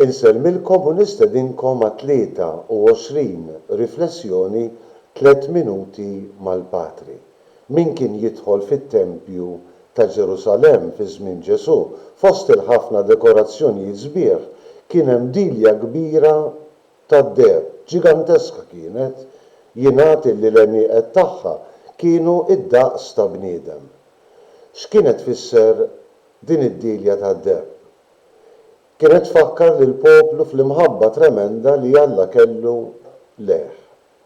Insellmilkom u nistedinkom għat-23 Riflessjoni Tliet Minuti mal-Patri. Min kien jidħol fit-tempju ta' Ġerusalemm fi żmien Ġesù? Fost il-ħafna dekorazzjonijiet sbieħ kien hemm dilja kbira tad-deheb, ġiganteska kienet, jingħad illi l-għenieqed tagħha kienu d-daqs ta' bniedem. X'kienet tfisser Din id-dielja tad-deheb kienet tfakkar lill-poplu fl-imħabba tremenda li Alla kellu lejh.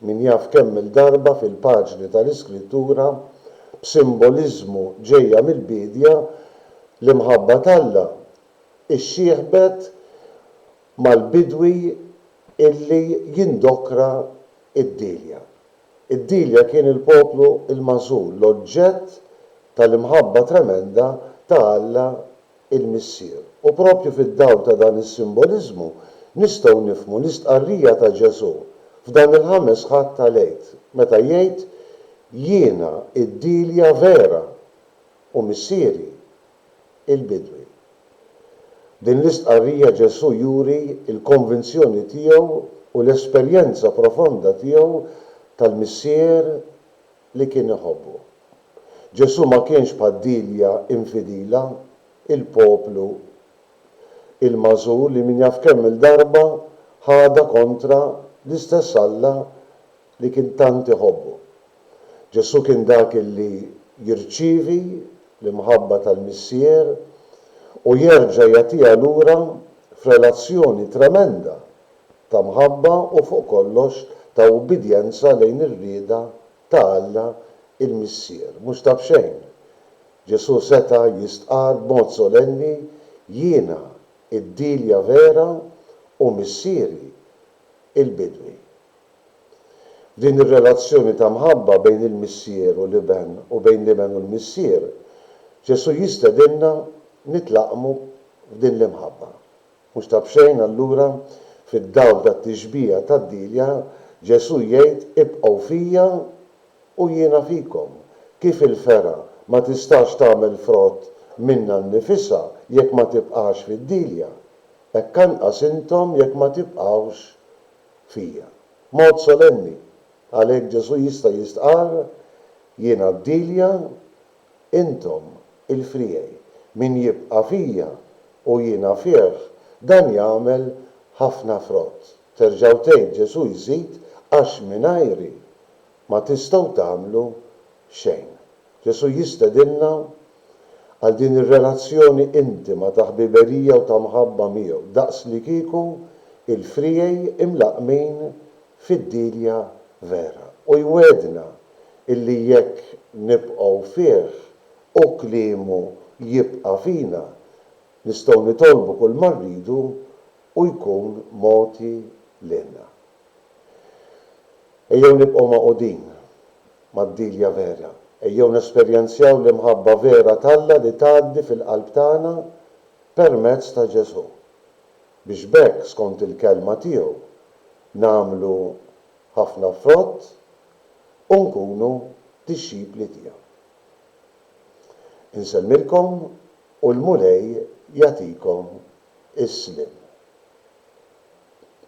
Min jaf kemm-il darba fil-paġni tal-Iskrittura, b'simboliżmu ġejja mill-biedja, l-imħabba t'Alla xxieħbet mal-bidwi illi jindokra d-dielja. Id-Delia kien il-poplu l-magħżul, l-oġġett tal-imħabba tremenda ta' Alla l-Missier. U proprju fid-dawl ta' dan is-simboliżmu nistgħu nifhmu l-istqarrija ta' Ġesù f'dan il-Ħames Ħadd tal-Għid, meta jgħid, Jiena d-Delia vera, u Missieri il-bidwi. B'din l-istqarrija Ġesù juri l-konvinzjoni tiegħu u l-esperjenza profonda tiegħu tal-Missier li kien iħobbu. Ġesù ma kienx bħal Dilja infidila, il-poplu il-magħżul li min jaf kemm-il darba ħadha kontra l-istess Alla li kien tant iħobbu. Ġesù kien dak li jirċievi l-imħabba tal-Missier u jerġa' jagħtiha lura f'relazzjoni tremenda ta' mħabba u fuq kollox ta' ubbidjenza lejn ir-rieda ta' Alla l-Missier. Mhux ta' b'xejn, Ġesù seta' jistqarr b'mod solenni, Jiena d-dielja vera u Missieri l-bidwi. Din ir-relazzjoni ta' mħabba bejn il-Missier u l-Iben u bejn l-Iben u l-Missier, Ġesù jistedinna nitlaqqmu f'din l-imħabba. Mhux ta' b'xejn allura, fid-dawl tat-tixbiha tad-dielja, Ġesù jgħid, Ibqgħu fija u jiena fikom. Kif il-fergħa ma tistax tagħmel frott minnha nnifisha jekk ma tibqax fid-dielja, hekk anqas intom jekk ma tibqgħux fija. B'mod solenni, għalhekk Ġesù jista' jistqarr, Jiena d-dielja, intom il-friegħi. Min jibqa' fija u jiena fih, dan jagħmel ħafna frott. Terġgħu tgħid Ġesù jżid, Għax mingħajri ma tistgħu tagħmlu xejn. Ġesù jistedinna għal din ir-relazzjoni intima ta' ħbiberija u ta' mħabba miegħu, daqslikieku l-friegħi imlaqqmin fid-dielja vera. U jwiegħdna illi jekk nibqgħu fih u kliemu jibqa' fina, nistgħu nitolbu kulma rridu u jkun mogħti lilna. Ejjew nibqgħu magħqudin mad-dilja vera. Ejjew nesperjenzjaw l-imħabba vera t'Alla li tgħaddi fil-qalb tagħna permezz ta' Ġesù, biex b'hekk, skont il-Kelma tiegħu, nagħmlu ħafna frott u nkunu dixxipli tiegħu. Insellmilkom u l-Mulej jagħtikom is-sliem.